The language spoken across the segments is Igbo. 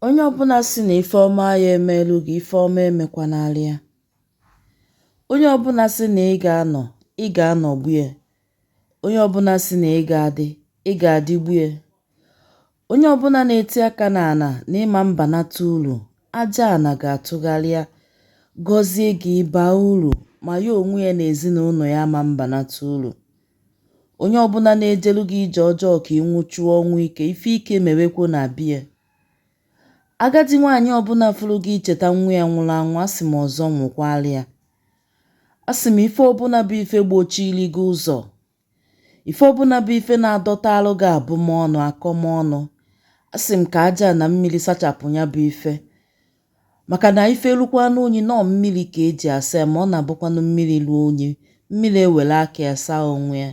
Onye ọbụna sị na ife ọma aya emeelu gị ife ọma emekwanarị ya onye ọbụna sị na ị ga-anọ ị ga-anọgbu ya onye ọbụna sị na ị ga-adị ị ga-adịgbu ya onye ọbụna na-eti aka n'ana na ị ma mbanata uru aja ana ga-atụgharịa gọzie gị ị baa uru ma ya onwe ya na ezinụnọ ya ma mbanata uru Onye ọbụna na-ejelu gị ije ọjọọ ka ị nwụchuo ọnwụ ike, ife ike mewekwa na be ya. Agadi nwaanyị ọbụna fụrụ gị icheta nwa ya nwụlụ anwụ, asị m ọzọ nwụkwaarị ya. Asị m ife ọbụna bụ ife gbochiiri gị ụzọ, ife ọbụna bụ ife na-adọtaalụ gị abụmọnụ, akọmọnụ, asị m ka aja a na mmiri sachapụ nya bụ ife. maka na ife lukwanụ unyi na ọọ mmiri ka e ji asa ya ma ọ na-abụkwanụ mmiri luo unyi mmiri ewere aka ya saa onwe ya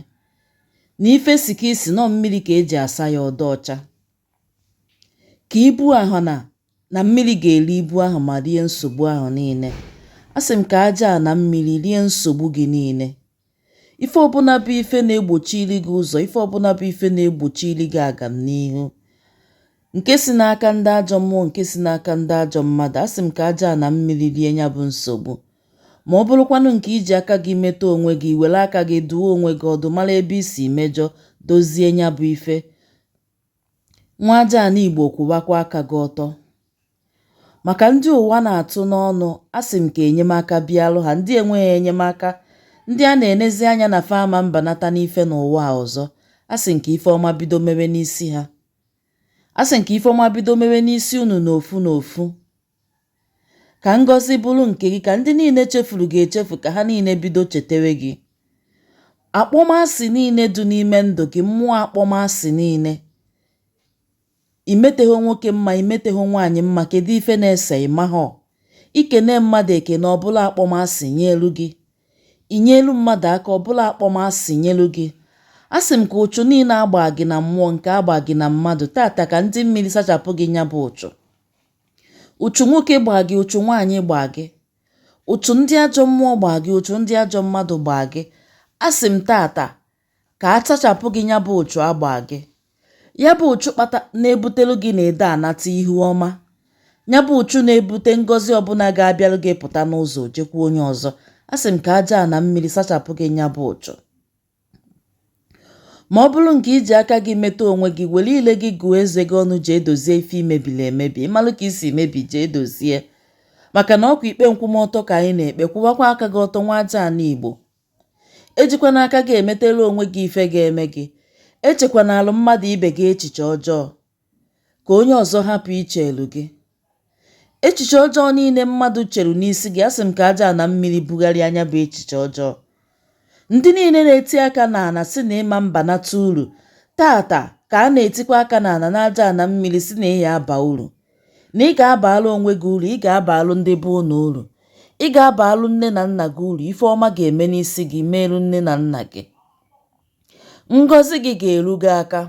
na ife sika isi na ọọ mmiri ka e ji asa ya ọ dị ọcha ka ibu ahụ na na mmiri ga-eri ibu ahụ ma rie nsogbu ahụ niile a sị m ka aja a na mmiri rie nsogbu gị niile Ife ọbụna bụ ife na-egbochiri gị ụzọ, ife ọbụna bụ ife na-egbochiri gị agamnihu, nke si n'aka ndị ajọ mmụọ, nke si n'aka ndị ajọ mmadụ, asị m ka aja a na mmiri rie nya bụ nsogbu. Ma ọ bụrụkwanụ nke i ji aka gị meta onwe gị, i were aka gị dụọ onwe gị ọdụ, mara ebe i si mejọ, dozie nya bụ ife. Nwa aja ana Igbo kwụbakwa aka gị ọtọ. Maka ndị ụwa na-atụ n'ọnụ, asị m ka enyemaka bịalụ ha, ndị enweghị enyemaka, ndị a na-enezi anya na fa ama mbanata n'ife n'ụwa a ọzọ, asị m ka ife ọma bido mewe n'isi ha. Asị m ka ife ọma bido mewe n'isi unu n'ofu n'ofu. Ka ngọzi bụrụ nke gị, ka ndị niile chefuru gị echefu, ka ha niile bido chetewe gị. Akpọmasị niile dị n'ime ndụ gị, mmụọ akpọmasị niile. I metaghị nwoke mma, i metaghị nwaanyị mma, kedu ife na-ese ị mahọ? I kene mmadụ ekene, ọ bụlụ akpọmasị nyeelu gị. I nyeelu mmadụ aka, ọ bụlụ akpọmasị nyeelu gị. A sị m ka ụchụ niine a gbaa gị na mmụọ nke a gbaa gị na mmadụ, taata ka ndị mmiri sachapụ gị nya bụ ụchụ. ụchụ nwoke gbaa gị ụchụ nwaanyị gbaa gị ụchụ ndị ajọ mmụọ gbaa gị ụchụ ndị ajọ mmadụ gbaa gị asị m taata ka a sachapụ gị nya bụ ụchụ a gbaa gị ya bụ ụchụ kpata na-ebutelu gị na ede anata ihu ọma ya bụ ụchụ na-ebute ngọzi ọbụna ga-abịalụ gị pụta n'ụzọ jekwuo onye ọzọ asị m ka aja a na mmiri sachapụ gị nya bụ ụchụ Ma ọ bụrụ nke i ji aka gị meta onwe gị, were ile gị gụọ eze gị ọnụ jee dozie ife i mebili emebi. Ị malụ ka i si mebie jee dozie. Maka na ọkwa ikpe nkwụmọtọ ka anyị na-ekpe, kwụwakwa aka gị ọtọ nwa aja ana Igbo. Ejikwana aka gị emetara onwe gị ife ga-eme gị. Echekwanaalụ mmadụ ibe gị echiche ọjọọ. ka onye ọzọ hapụ icheelu gị echiche ọjọọ niile mmadụ cheru n'isi gị asị m ka aja na mmiri bugharịa nya bụ echiche ọjọọ ndị niile na-eti aka n'ana sị na ị ma-abanata uru taata ka a na-etikwa aka n'ana n'aja na mmiri sị na ị ya-aba uru na ị ga-abalụ onwe gị uru ị ga-abalụ ndị be unu uru ị ga-abalụ nne na nna gị uru ife ọma ga-eme n'isi gị meelu nne na nna gị ngọzi gị ga-eru gị aka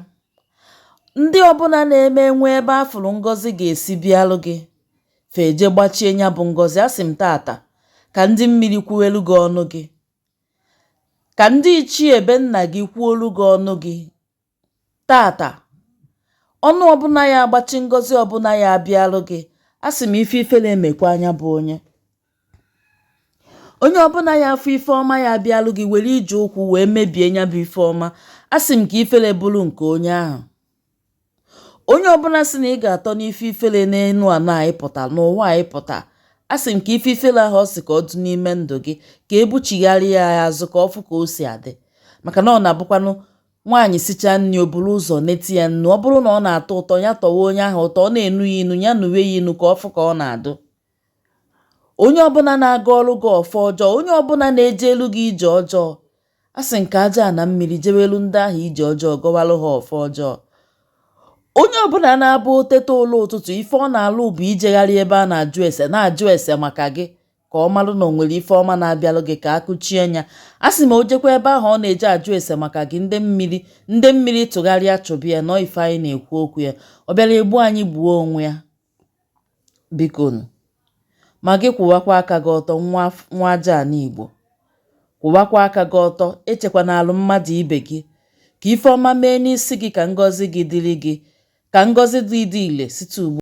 ndị ọbụna na-eme e nwee ebe a fụrụ ngọzi ga-esi bịalụ gị fa eje gbachie nya bụ ngọzi asị m taata ka ndị mmiri kwuelu gị ọnụ gị ka ndị ichie be nna gị kwuolu gị ọnụ gị taata ọnụ ọbụna ya-agbachi ngọzi ọbụna ya-abịalụ gị asị m ife ifere mekwaa nya bụ onye onye ọbụna ya-afụ ife ọma ya-abịalụ gị were ije ụkwụ wee mebie ya bụ ife ọma asị m ka ifere bụrụ nke onye ahụ onye ọbụna sị na ị ga-atọ n'ife ifere n'elu ala anyị pụta n'ụwa anyị pụta asị m ka ife ifere ahụ ọ sị ka ọ dị n'ime ndụ gị ka e buchigharịa ya azụ ka ọ fụ ka o si adị maka na ọ na-abụkwanụ nwaanyị sichaa nri o buru ụzọ detụ ya ọnụ ọ bụrụ na ọ na-atọ ụtọ ya tọwa onye ahụ ụtọ ọ na-enu ya inu ya nuwe ya inu ka ọ fụ ka ọ na-adụ onye ọbụna na-agọlụ gị ọfọ ọjọọ onye ọbụna na-ejelu gị ije ọjọọ asị m ka aja na mmiri jeweelu ndị ahụ ije ọjọọ gọwalụ ha ọfọ ọjọọ onye ọbụna na-abụ o teta ụla ụtụtụ ife ọ na-alụ bụ ijegharị ebe a na-ajụ ese na-ajụ ese maka gị ka ọ marụ na o nwere ife ọma na-abịalụ gị ka a kụchie nya asị m o jekwa ebe ahụ ọ na-eje ajụ ese maka gị ndị mmiri ndị mmiri tụgharịa chụbịa nọ ife anyị na-ekwu okwu ya ọ bịara egbu anyị gbuo onwe ya biko nụ ma gị kwụwakwa aka gị ọtọ nwa nwa aja anị Igbo kwụwakwa aka gị ọtọ echekwana alụ mmadụ ibe gị ka ife ọma mee n'isi gị ka ngọzi gị dịrị gị ka ngọzi dị dị ile site ugbu